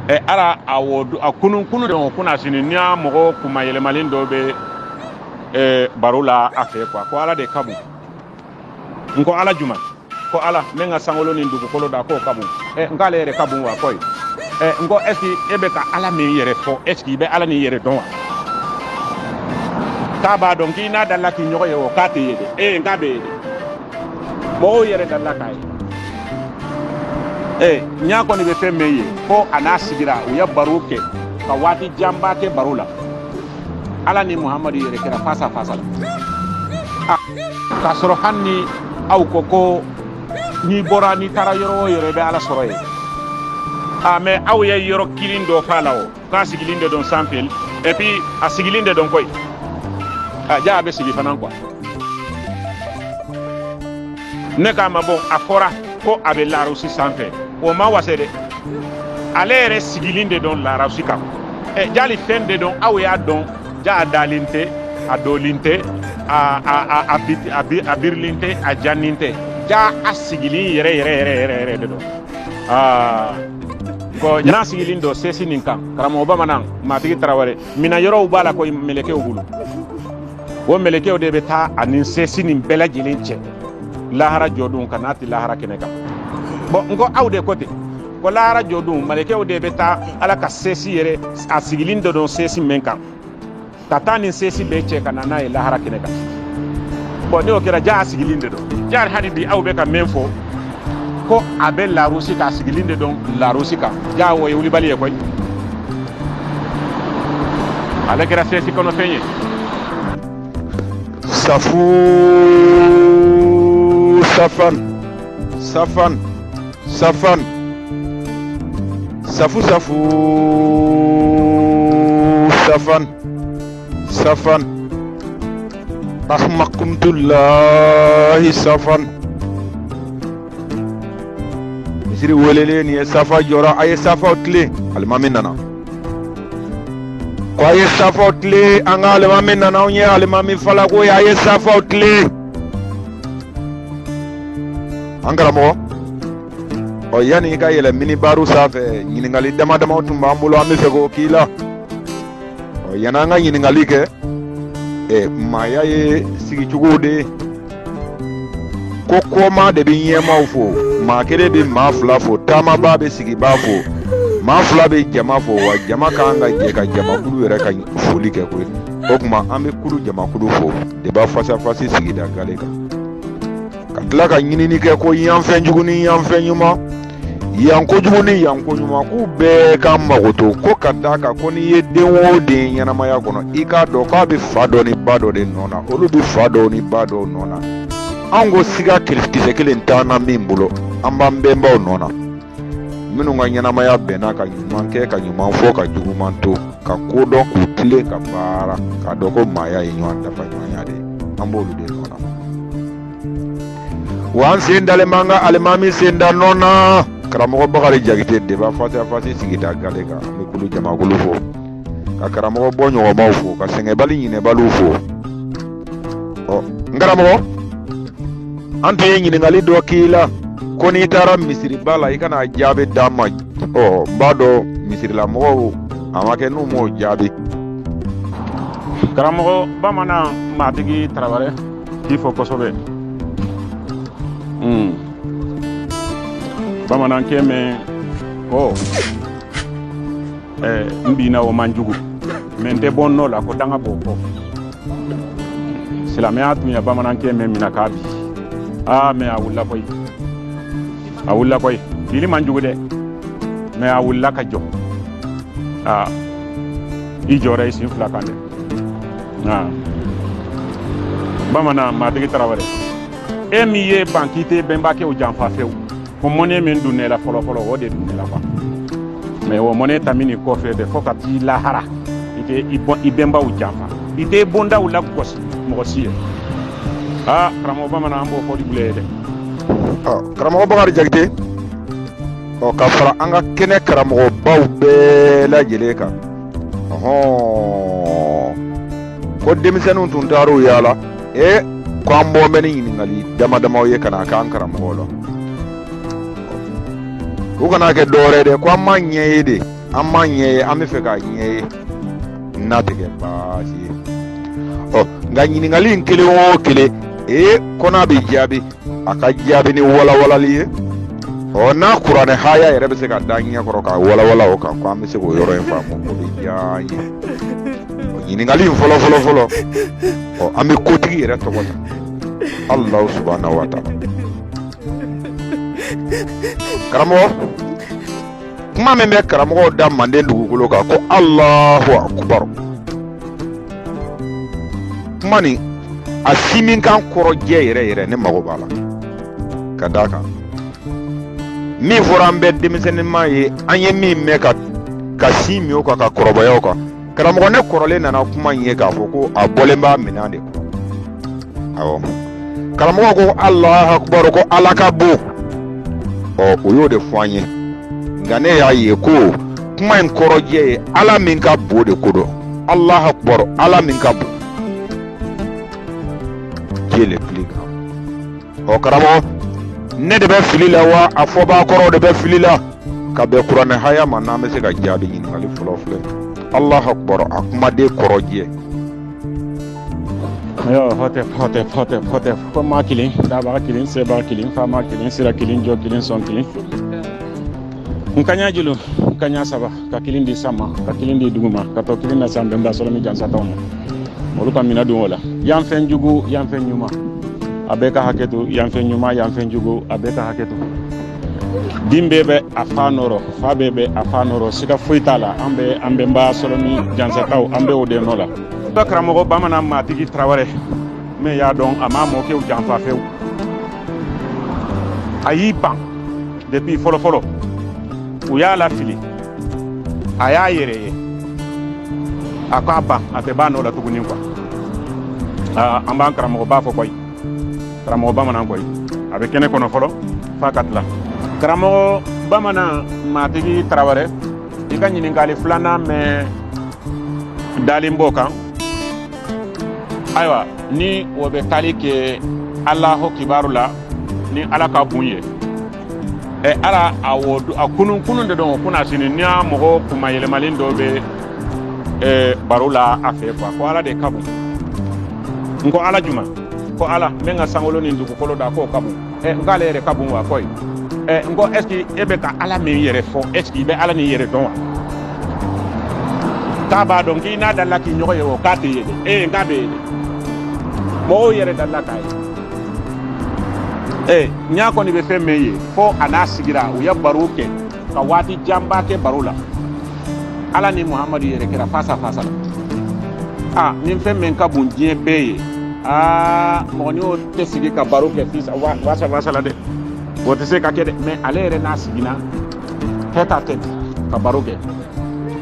ɛ ara a wɔ a kunun kunun de kunasini ne ni a mɔgɔ kunmayɛlɛmalen dɔ bɛ ɛ baro la a fɛ quoi ko ala de ka bon n ko ala juma ko ala min ka sankolo ni dugukolo da k'o ka bon ɛ n k'ala yɛrɛ ka bon wa ko ye ɛ n ko ɛsike e bɛ ka ala min yɛrɛ fɔ ɛsike i bɛ ala nin yɛrɛ dɔn wa k'a b'a dɔn k'i n'a delila ka ɲɔgɔn ye o k'a tɛ ye dɛ ee n k'a bɛ ye dɛ mɔgɔw yɛrɛ delila k'a ye ee ɲa kɔni bɛ fɛn min ye fo a n'a sigira u ye baro kɛ ka waati janba kɛ baro la ala ni muhamadu yɛrɛ kɛra face à face la k'a sɔrɔ hali ni aw ko ko n'i bɔra n'i taara yɔrɔ o yɔrɔ i bɛ ala sɔrɔ yen a mɛ aw ye yɔrɔ kelen dɔ f'a la o k'a sigilen de don sanfɛ et puis a sigilen de don koyi a ja a bɛ sigi fana quoi ne k'a ma bon a fɔra ko a bɛ larawusi sanfɛ o ma wase dɛ ale yɛrɛ sigilen de don larawusi kan ɛ jali fɛn de don aw y'a dɔn ja a dalen tɛ a dɔlen tɛ a a a a bi a bi a birilen tɛ a jannen tɛ ja a sigilen yɛrɛ yɛrɛ yɛrɛ yɛrɛ yɛrɛ de don aa ko n'a sigilen don sesi nin kan karamɔgɔ bamanan matigi tarawele minayɔrɔw b'a la koyi melekew bolo o melekew de bɛ taa a ni sesi nin bɛɛ lajɛlen cɛ lahara jɔdon k'a nati lahara kɛnɛ kan bɔn n ko aw de ko ten ko lahara jɔdon melekew de bɛ taa ala ka sesi yɛrɛ a sigilen dɔ don sesi min kan ka taa a ni sesi bɛɛ cɛ ka na n'a ye lahara kɛnɛ kan bɔn n'o kɛra ja a sigilen de don ja hali bi aw bɛ ka min fɔ ko a bɛ larusi k'a sigilen de don larusi kan ja o ye wulibali ye koyi ale kɛra sesi kɔnɔfɛn ye safu safan Safan safan safu safu safan safan ahmakumtullahi safan misiri welelen nin ye safa jɔra a ye safaw tilen alimami nana ko a ye safaw tilen an ka alimami nana anw ye alimami falako ye a ye safaw tilen an karamɔgɔ ɔ yanni i ka yɛlɛ minibari sanfɛ ɲininkali dama damaw tun b'an bolo an b'a fɛ k'o k'i la ɔ yanni an ka ɲininkali kɛ ɛ maaya ye sigicogo de ye ko kɔmaa de bɛ ɲɛmaaw fo maa kelen bɛ maa fila fo taamaba bɛ sigibaa fo maa fila bɛ jama fo wa jama kan ka jɛ ka jamakulu yɛrɛ ka foli kɛ koyi o tuma an bɛ kulu jamakulu fo de b'a fasafasi sigida gale kan ka tila ka ɲinini kɛ ko yanfɛn jugu ni yanfɛn ɲuman yan kojugu ni yan ko ɲuman k'u bɛɛ k'an makoto ko ka d'a kan ko n'i ye den o den ɲɛnamaya kɔnɔ i k'a dɔn k'a bɛ fa dɔ ni ba dɔ de nɔ na olu bɛ fa dɔw ni ba dɔw nɔ na anw ko siga kisɛ kelen t'an na min bolo an b'an bɛnbaw nɔ na minnu ka ɲɛnamaya bɛnna ka ɲuman kɛ ka ɲuman fɔ ka juguman to ka ko dɔn k'u tilen ka baara k'a dɔn ko maaya ye ɲɔgɔn dafa ɲɔgɔnya de ye an b'olu de nɔ na wa an sen dalen b'an ka alimami sen da nɔ na karamɔgɔ bakari jakite de b'a fasiya fasi sigida gale kan an bɛ kulu jamakulu fo ka karamɔgɔ bɔɲɔgɔnmaw fo ka sɛgɛnbali ɲinɛbaliw fo ɔ n karamɔgɔ an tun ye ɲininkali dɔ k'i la ko n'i taara misiriba la i ka na jaabi d'an ma ɔ n b'a dɔn misirilamɔgɔw a ma kɛ n'u m'o jaabi karamɔgɔ bamanan matigi tarawele k'i fo kosɛbɛ hmm. bamanankɛ min ko eh, n binna o man jugu mɛ n tɛ bɔ n nɔ la ko danga b'o kɔ silamɛya tun ya bamanankɛ min mina k'a bin aa mɛ a wulila koyi a wulila koyi binni man jugu dɛ mɛ a wulila ka jɔ aa i jɔra i sen fila kan dɛ aa bamanan matigi tarawele e min y'i ban k'i tɛ bɛnbakɛw janfa fewu ko mɔnɛ min don ne la fɔlɔ fɔlɔ o de don ne la quoi mais o mɔnɛ taminen kɔfɛ de fo ka t'i lahara i tɛ i bɔn i bɛnbaw janfa i tɛ bondaw lagosi mɔgɔ si ye aa karamɔgɔ bamanan an b'o foli bila i ye dɛ karamɔgɔ bakari jakite ɔ ka fara an ka kɛnɛ karamɔgɔbaw bɛɛ lajɛlen kan ɔhɔn ko denmisɛnninw tun taar'u yaala e ko an bɔ bɛ ni ɲininkali dama damaw ye ka na k'an karamɔgɔ la u kana kɛ dɔwɛrɛ dɛ ko an m'a ɲɛ ye de an m'a ɲɛ ye an b'a fɛ k'a ɲɛ ye n'a tɛ kɛ baasi ye ɔ nka ɲininkali in kelen o kelen ee ko n'a bɛ jaabi a ka jaabi ni walawalali ye ɔ n'a kuranɛ haya yɛrɛ bɛ se ka d'an ɲɛ kɔrɔ k'a walawala o kan ko an bɛ se k'o yɔrɔ in faamu o bɛ diya an ye ɲininkali in fɔlɔ fɔlɔ fɔlɔ ɔ an bɛ kotigi yɛrɛ tɔgɔ ta Allah subhanahu wa ta'ala karamɔgɔ kuma min bɛ karamɔgɔw da manden dugukolo kan ko Allahu akbar kuma nin a siminkan kɔrɔjɛ yɛrɛ yɛrɛ ne mago b'a la ka d'a kan min fɔra an bɛɛ denmisɛnninma ye an ye min mɛn ka ka sin min o kan ka kɔrɔbaya o kan karamɔgɔ ne kɔrɔlen nana kuma in ye k'a fɔ ko a bɔlen b'a minɛn de kɔnɔ awɔ karamɔgɔ ko alahu akubaru ko ala ka bon ɔ o y'o de fɔ an ye nka ne y'a ye ko kuma in kɔrɔjɛ ye ala min ka bon de ko don alahu akubaru ala min ka bon qui est le plus grand ɔ oh, karamɔgɔ ne de bɛ fili la wa a fɔbaa kɔrɔ de bɛ fili la ka bɛn kuranɛ haya ma n'an bɛ se k'a jaabi ɲininkali fɔlɔ filɛ allah akbar a kumaden kɔrɔ jɛ yo hote hote hote hote ko ma kelen dabaga kelen sebaga kelen faama kelen sira kelen jɔ kelen sɔn kelen n kaɲa julu n kaɲa saba ka kelen di san ma ka kelen di dugu ma ka tɔ kelen lase an bɛnba sɔrɔ ni jansataw ma olu ka minɛ don o la yan fɛn jugu yan fɛn ɲuman a bɛɛ ka hakɛ to yan fɛn ɲuman yan fɛn jugu a bɛɛ ka hakɛ to den bɛɛ bɛ a fa nɔ rɔ fa bɛɛ bɛ a fa nɔ rɔ siga foyi t'a la an bɛ an bɛnba sɔrɔ ni jansataw an bɛ o de nɔ la dɔ karamɔgɔ bamanan matigi tarawɛrɛ min y'a dɔn a m'a mɔkɛw janfa fewu a y'i ban depuis fɔlɔfɔlɔ u y'a lafili a y'a yɛrɛ ye a ko a ban a tɛ b'a nɔ la tuguni quoi an b'an karamɔgɔba fɔ kɔyi karamɔgɔ bamanan kɔyi a bɛ kɛnɛ kɔnɔ fɔlɔ f'a ka tila karamɔgɔ bamanan matigi tarawɛrɛ i ka ɲininkali filanan min dalen b'o kan ayiwa ni o bɛ taali kɛ alahu akubaru la ni ala ka bon ye ɛ ala awɔ a kunun kunun de don kunasinin n ni a mɔgɔ kunmayɛlɛmalen dɔ bɛ ɛ baro la a fɛ quoi ko ala de ka bon n ko ala jumɛn ko ala min ka sankolo ni dugukolo da k'o ka bon ɛ n k'ala yɛrɛ ka bon wa kɔyi ɛ n ko est-ce que e bɛ ka ala min yɛrɛ fɔ est-ce que i bɛ ala nin yɛrɛ dɔn wa k'a b'a dɔn k'i n'a dalila k'i ɲɔgɔn ye o k'a tɛ ye dɛ ee n k'a bɛ ye dɛ mɔgɔw yɛrɛ dalila k'a ye ee ɲa kɔni bɛ fɛn min ye fo a n'a sigira u ye baro kɛ ka waati janba kɛ baro la ala ni muhamadu yɛrɛ kɛra face à face la a ni fɛn min ka bon diɲɛ bɛɛ ye aa mɔgɔ ni o tɛ sigi ka baro kɛ face à face la dɛ o tɛ se ka kɛ dɛ mais ale yɛrɛ n'a sigira tête-à-tête ka baro kɛ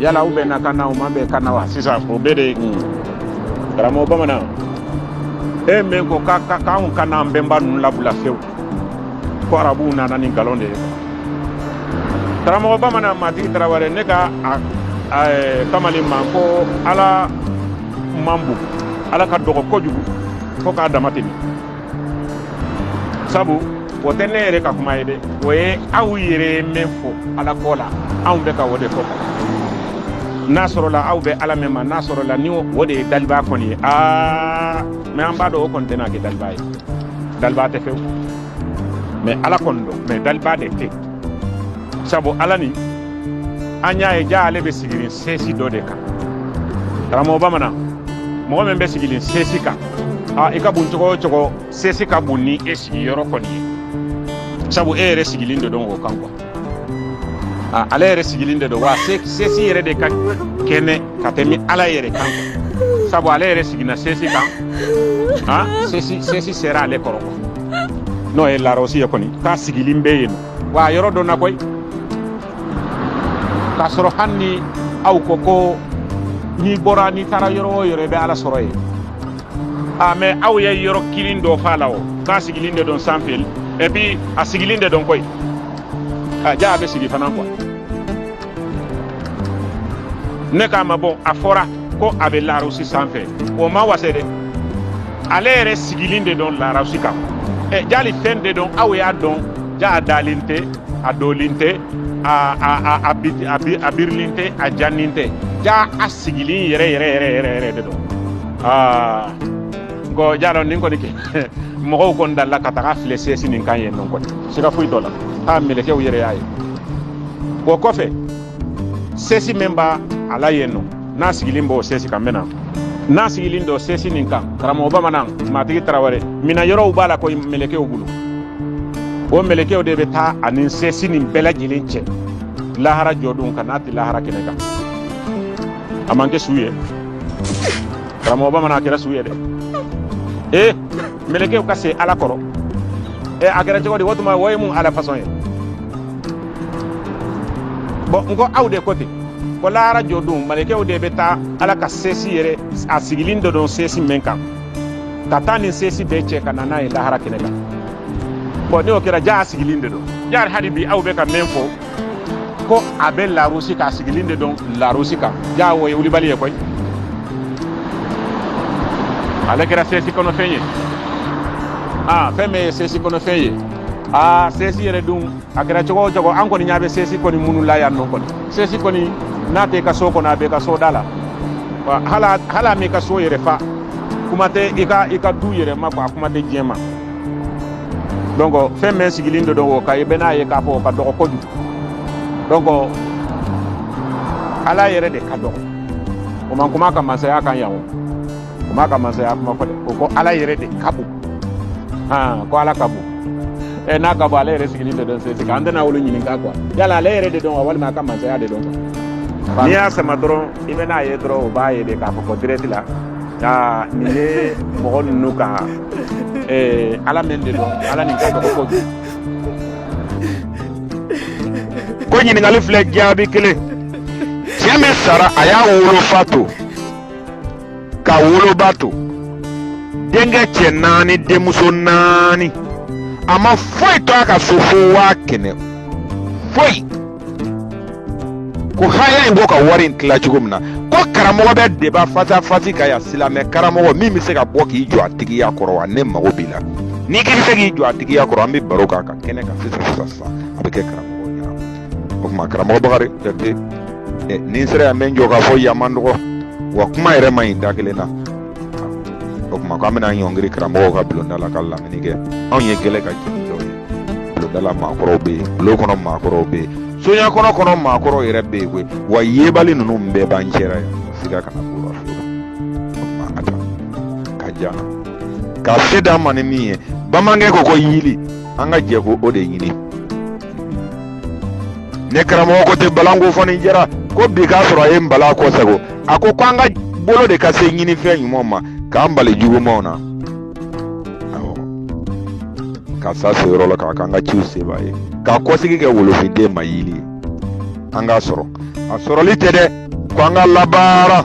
yala u bɛnna kan na u ma bɛn kan na wa sisan o bɛɛ de ye karamɔgɔ bamanan e min ko k'anw kan'an bɛnba ninnu labila fewu ko arabuw nana ni nkalon de ye karamɔgɔ bamanan matigi tarawele ne k'a kamalen ma ko ala man bon ala ka dɔgɔ kojugu fo k'a dama tɛmɛ sabu o tɛ ne yɛrɛ ka kuma ye dɛ o ye aw yɛrɛ ye min fɔ ala ko la anw bɛ ka o de fɔ n'a sɔrɔla aw bɛ ala min ma n'a sɔrɔla ni o de ye daliba kɔni ye aa mɛ an b'a dɔn o kɔni tɛna kɛ daliba ye daliba tɛ fewu mɛ ala kɔni don mɛ daliba de tɛ sabu ala ni an y'a ye ja ale bɛ sigilen sɛsi dɔ de kan karamɔgɔ bamanan mɔgɔ min bɛ sigilen sɛsi kan a i ka bon cogo o cogo sɛsi ka bon ni e sigiyɔrɔ kɔni ye sabu e yɛrɛ sigilen de don o kan kuwa a ale yɛrɛ sigilen de don wa sɛsi yɛrɛ de ka kɛnɛ ka tɛmɛ ala yɛrɛ kan kuwa sabu ale yɛrɛ sigina sɛsi kan a sɛsi sɛsi sera ale kɔrɔ kuwa n'o ye larusi ye kɔni k'a sigilen bɛ yen wa yɔrɔ dɔnna koyi k'a sɔrɔ hali ni aw ko ko n'i bɔra n'i taara yɔrɔ o yɔrɔ i bɛ ala sɔrɔ yen a mɛ aw ye yɔrɔ kelen dɔ f'a la o k'a sigilen de don sanfɛ epi a sigilen de don koyi a ja a bɛ sigi fana kuwa ne k'a ma bɔn a fɔra ko a bɛ larusi sanfɛ o ma wase dɛ ale yɛrɛ sigilen de don larusi kan ɛ jali fɛn de don aw y'a dɔn ja a dalen tɛ a jɔlen tɛ a a a a bi a bi a birilen tɛ a jannen tɛ ja a sigilen yɛrɛ yɛrɛ yɛrɛ yɛrɛ yɛrɛ de don aa nko ja don nin kɔni kɛ mɔgɔw kɔni dalila ka taga a filɛ sɛsi nin kan yen nɔ kɔni siga foyi t'o la a mɛlɛkɛw yɛrɛ y'a ye o kɔfɛ sɛsi min b'a la yen nɔ n'a sigilen b'o sɛsi kan mɛ n'a n'a sigilen don sɛsi nin kan karamɔgɔ bamanan matigi tarawele minayɔrɔw b'a la ko mɛlɛkɛw bolo o mɛlɛkɛw de bɛ taa a ni sɛsi nin bɛɛ lajɛlen cɛ lahara jɔdon ka n'a tɛ lahara kɛnɛ kan a ma kɛ su ye karamɔgɔ bamanan a kɛra su ye dɛ ee mɛlɛkɛw ka se ala kɔrɔ ee a kɛra cogo di o tuma o ye mun ala fasɔn ye bɔn n ko aw de ko ten ko lahara jɔ don mɛlɛkɛw de bɛ taa ala ka sesi yɛrɛ a sigilin de don sesi min kan ka taa a ni sesi bɛɛ cɛ ka na n'a ye lahara kɛnɛ kan bɔn n'o kɛra ja a sigilin de don yari hali bi aw bɛ ka min fɔ ko a bɛ larusi k'a sigilin de don larusi kan ja o ye wulibali ye koyi ale kɛra sesi kɔnɔfɛn ye aa fɛn min ye sesi kɔnɔfɛn ye aa sesi yɛrɛ dun a kɛra cogo o cogo an kɔni ɲɛ bɛ sesi kɔni minnu la yan nɔ kɔni sesi kɔni n'a t'i ka so kɔnɔ a b'i ka so da la wa hal'a hal'a m'i ka so yɛrɛ fa kuma tɛ i ka i ka du yɛrɛ ma quoi a kuma tɛ diɲɛ ma donc fɛn min sigilen de don o kan i bɛn'a ye k'a fɔ o ka dɔgɔ kojugu donc ala yɛrɛ de ka dɔgɔ o ma kuma a ka masaya kan yan o o m'a ka masaya kuma fɔ dɛ o ko ala yɛrɛ de ka bon han ko ala ka bon ɛ n'a ka bon ale yɛrɛ sigilen de don sɛsi kan an tɛna olu ɲininka kuwa yala ale yɛrɛ de don wa walima a ka masaya de don kuwa n'i y'a sama dɔrɔn i bɛ n'a ye dɔrɔn o b'a ye de k'a fɔ ko dirɛti la aa nin ye mɔgɔ ninnu ka ala min de don ala nin ka dɔgɔ ko ko ɲininkali filɛ jaabi kelen cɛ min sara a y'a wolofa to ka woloba to denkɛ cɛ naani denmuso naani a ma foyi to a ka so fo waa kɛmɛ foyi ko haya in b'o ka wari in tila cogo min na ko karamɔgɔ bɛ deba fasafasi kɛ yan silamɛ karamɔgɔ min bɛ se ka bɔ k'i jɔ a tigiya kɔrɔ wa ne mago b'i la n'i k'i bɛ se k'i jɔ a tigiya kɔrɔ an bɛ baro k'a kan kɛnɛ kan sisan sisan sisan a bɛ kɛ karamɔgɔ o tuma karamɔgɔ bakari jate eh, ni n sera yan n bɛ n jɔ k'a fɔ yan man dɔgɔ wa kuma yɛrɛ man ɲi da kelen na o tuma k'an bɛna ɲɔngiri karamɔgɔw ka bulonda la ka lamini kɛ anw ye gɛlɛ ka jigin dɔw ye bulonda la maakɔrɔw bɛ yen bulon kɔnɔ maakɔrɔw bɛ yen soɲa kɔnɔ kɔnɔ maakɔrɔw yɛrɛ bɛ yen koyi wa yebali ninnu bɛɛ b'an cɛra yan siga kana k'u la o tuma a ta ka jan ka se d'an ma ni min ye bamanankɛ ko ko yili an ka jɛ ko o de ɲini ne karamɔgɔ ko ten balan ko fɔni jɛra ko bi k'a sɔrɔ a ye n bala kɔsago a ko ko an ka bolo de ka se ɲinifɛn ɲumanw ma k'an bali jugumanw na awɔ ka sa se yɔrɔ la k'a k'an ka ciw seba ye ka kɔsigi kɛ wolofinden ma yili ye an k'a sɔrɔ a sɔrɔli tɛ dɛ ko an ka labaara